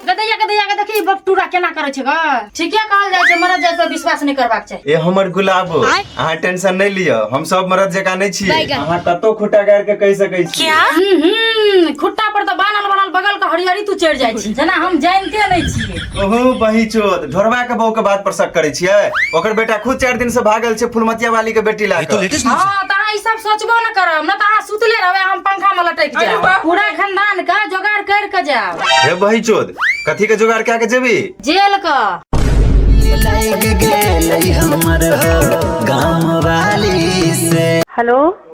गदैया गदैया के देखी बपटूरा केना करे छै ग ठीके कहल जाइ छै मरद जाय पर विश्वास नहि करबाक चाही ए हमर गुलाबो अहाँ टेंशन नहि लिअ हम सब मरद जकाँ नहि छी अहाँ कतौ खुटा गाड़ के कहि सकै छी हम्म, हम्म, खुट्टा पर तऽ बान्हल बान्हल बगल के हरियरी तू चढ़ि जाइ छी जेना हम जानिते नहि छियै ओहो बही चोद ढोरवा के बहू के बात पर शक करे छिए ओकर बेटा खुद चार दिन से भागल छे फुलमतिया वाली के बेटी ला के हाँ तो अहाँ ई सब सोचबो न करब न तो अहाँ सुतले रहबे हम पंखा में लटक अरे जाओ बाप रे। पूरा खानदान का जोगाड़ कर के जाओ हे बही चोद कथी के जुगाड़ क्या के जेबी जेल का लग गेलै हमर हो गाँव वाली से हेलो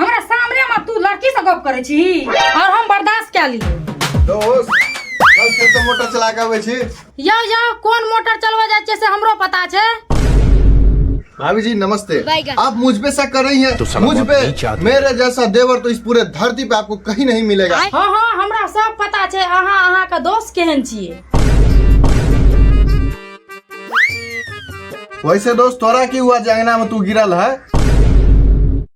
हमरा सामने में तू लड़की से गप करे छी और हम बर्दाश्त कर ली दोस्त कल खेत से मोटर चला के आबै छी यो यो कौन मोटर चलवा जाए छे से हमरो पता छे भाभी जी नमस्ते आप मुझ पे शक कर रही हैं मुझ पे मेरे जैसा देवर तो इस पूरे धरती पे आपको कहीं नहीं मिलेगा हाँ हाँ हमरा सब पता छे अहाँ अहाँ का दोस्त केहन छिए वैसे दोस्त तोरा की हुआ जे अंगना में तू गिरल है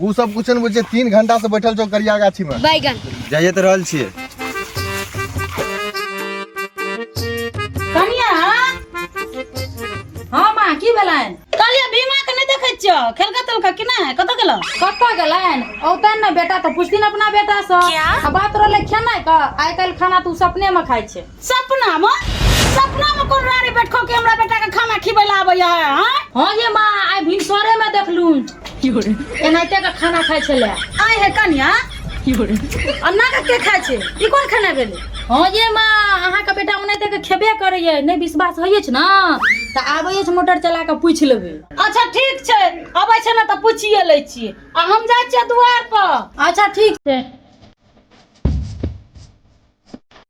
ओ सब कुछ ने बुझे तीन घंटा से बैठल छौ करिया गाछी में बैगन जाइए तो रहल छिए कनिया हाँ माँ की भेलैन कहलिए भीमा के नहीं देखे छियो खेलका तलका कि नहीं कत गेलो कत गेलैन औतैन ना बेटा तो पुछथिन अपना बेटा से क्या? बात रहले खेनाइ का आइ काल्हि खाना तू सपने में खाइ छे सपना में सपना में कोन रानी बैठको के हमरा बेटा के खाना खिबै ला आबै है हैं हां ये मां आइ भिनसरे में देखलू एनाहिते के खाना खाइ छले आइ है कन्या अन्ना के के खाइ छै ई कोन खाना भेलै हां ये मां अहाँ के बेटा ओनाहिते के खेबे करै है नै विश्वास होइए छै ना त आबै छै मोटर चला के पूछ लेबै अच्छा ठीक छै अबै छै ना त पूछिए लै छी आ हम जाइ छियै दुआर पर अच्छा ठीक छै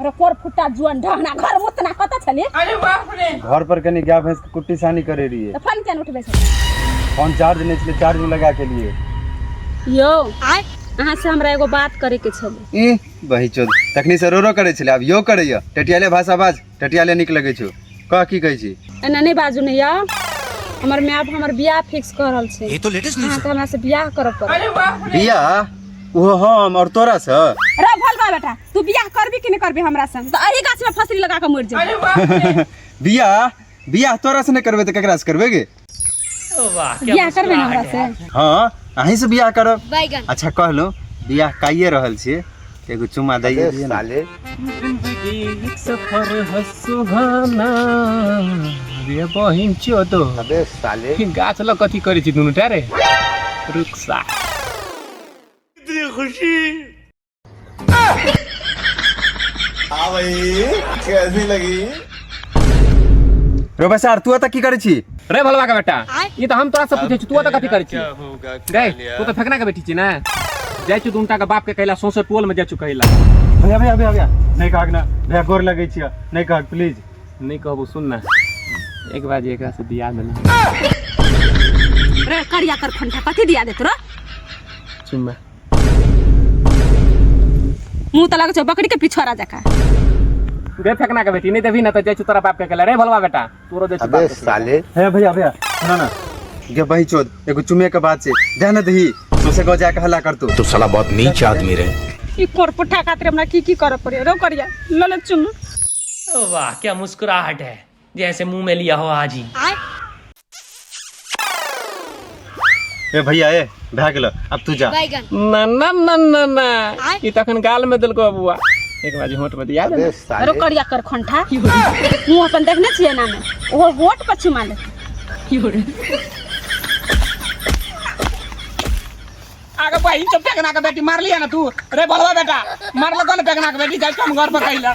अरे कोर फुट्टा जुअन ढहना घर मुतना कत छली अरे बाप रे घर पर कनी गाय भैंस के कुट्टी सानी करे रहिए तो फोन केन उठबे छली फोन चार्ज नहीं छे चार्ज में लगा के लिए यो आय अहाँ से हमरा एगो बात करे के छली ई बही चोद तखनी से रो रो करे छले अब यो करैया टेटियाले भाषा बाज टटिया ले नीक लगै छौ कह की कहै छी एना नहि बाजू ने यौ हमर माय बाप हमर बियाह फिक्स कऽ रहल छै ये तो लेटेस्ट न्यूज अहाँके हमरा से बियाह करऽ पड़त बियाह ओहो हम और तोरा से रे भलवा बेटा तू बियाह करबी कि नहि करबी हमरा संग तऽ अही गाछ में फसरी लगा कऽ मरि जेबै बियाह बियाह तोरा से नहि करबै तऽ केकरा से करबै गे वाह क्या बियाह करबे ना हमरा मुस्कुराहट से है। हाँ अहीं से बियाह करब बैगन अच्छा कहलो बियाह काइए रहल छिए तऽ एगो चुम्मा दैए दिए ना एक सफर है सुहाना रे बहिन चो तो अबे साले गाछ लग कथी करै छी दुनू टा रे रुक सा हाँ भाई कैसी लगी रो बसार तू अता की करे छी रे भलवा का बेटा ई तो हम तोरा से पूछे छी तू अता कथी करे छी रे तू तो फेकना के बेटी छी ना जाय छी दुनटा के बाप के कहला सोसो टोल में जाय छी कहला भैया भैया भैया भैया नहीं कहक ना भैया गोर लगे छिया नहीं कहक प्लीज नहीं कहबो सुन ना एक बार एकरा से बियाह में रे करिया कर फंटा कथी दिया देत रो चुम्मा मुंह तो लगे छो बकरी के पिछवाड़ा जका दे फेंकना के बेटी नहीं देबी ना तो जाय छु तोरा बाप के कहले रे भलवा बेटा तोरो दे छु अबे साले हे भैया भैया सुनो ना गे बही चोद एगो चुमे के बाद से दे न दही सोसे गो जाके हल्ला कर तू तो साला बहुत नीच आदमी रे ई कोरपुठा खातिर हमरा की की करे पड़े रो करिया ललक चुम वाह क्या मुस्कुराहट है जैसे मुंह में लिया हो आज ही ए भैया ए भए गेलो अब तू जा बैगन ना ना ना ना ना ई त अखन गाल में देलको बुआ एक बाजी होंठ पर दिया दे अरे करिया कर खंठा मुंह अपन देखने छिए ना में ओहो होट पर छिमा ले आगे बहिन तो बेगना के बेटी मार लिया ना तू रे बड़वा बेटा मार लगा ना बेगना के बेटी जाए हम घर पर कहिला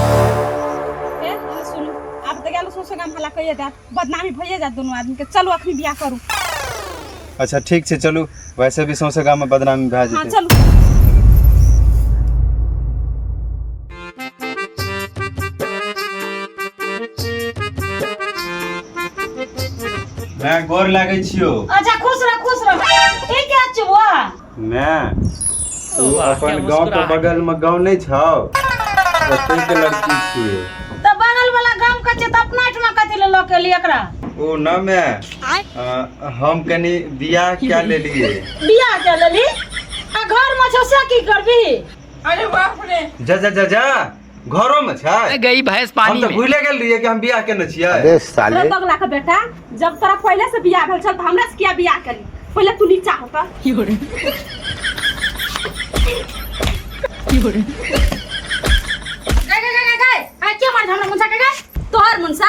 ए, आ, सुनू आप तो गेलो सोसो गाम हला कहिए जात बदनामी भइए जात दोनों आदमी के चलो अखनी बियाह करू अच्छा ठीक छै चलू वैसे भी सौंसे गाँव में बदनामी भए हाँ जेतै चलू मैं गोर लागै छियो अच्छा खुश रह खुश रह ई क्या चुबा मैं तू वाह, क्या अपन गाँव के मुस्कुराहट। बगल में गाँव नहीं छौ ओतै के लड़की छियै तो बगल वाला गांव का छै त अपना ठमा कथी ले लके लिए एकरा ओ ना मैं आय आ, हम कनी बियाह क्या लेलिए बियाह के लेली आ घर में छौ से की करबी अरे बाप रे जा जा जा जा घरो में छै अरे गई भैंस हम पानी तो में भूले गेल रहिए कि हम बियाह केने छियै अबे अरे साले बगला के बेटा जब तोरा पहले से बियाह भेल छल त हमरा से किया बियाह करी पहले तू नीचा हो त गाय गाय गाय गाय आ के मार हमरा मुंसा के गाय तोहर मुंसा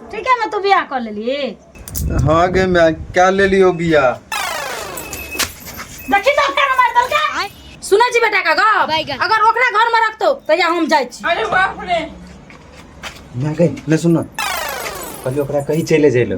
ठीके में तू बियाह कर लेली हाँ गे मैं क्या ले लियो बिया देखी तो फेर मार दल का सुनै छी बेटा का गप बैगन। अगर ओकरा घर में रखतो तहिया हम जाइ छी अरे बाप रे मैं गई ले सुन ना कभी ओकरा कहीं चले जाइलो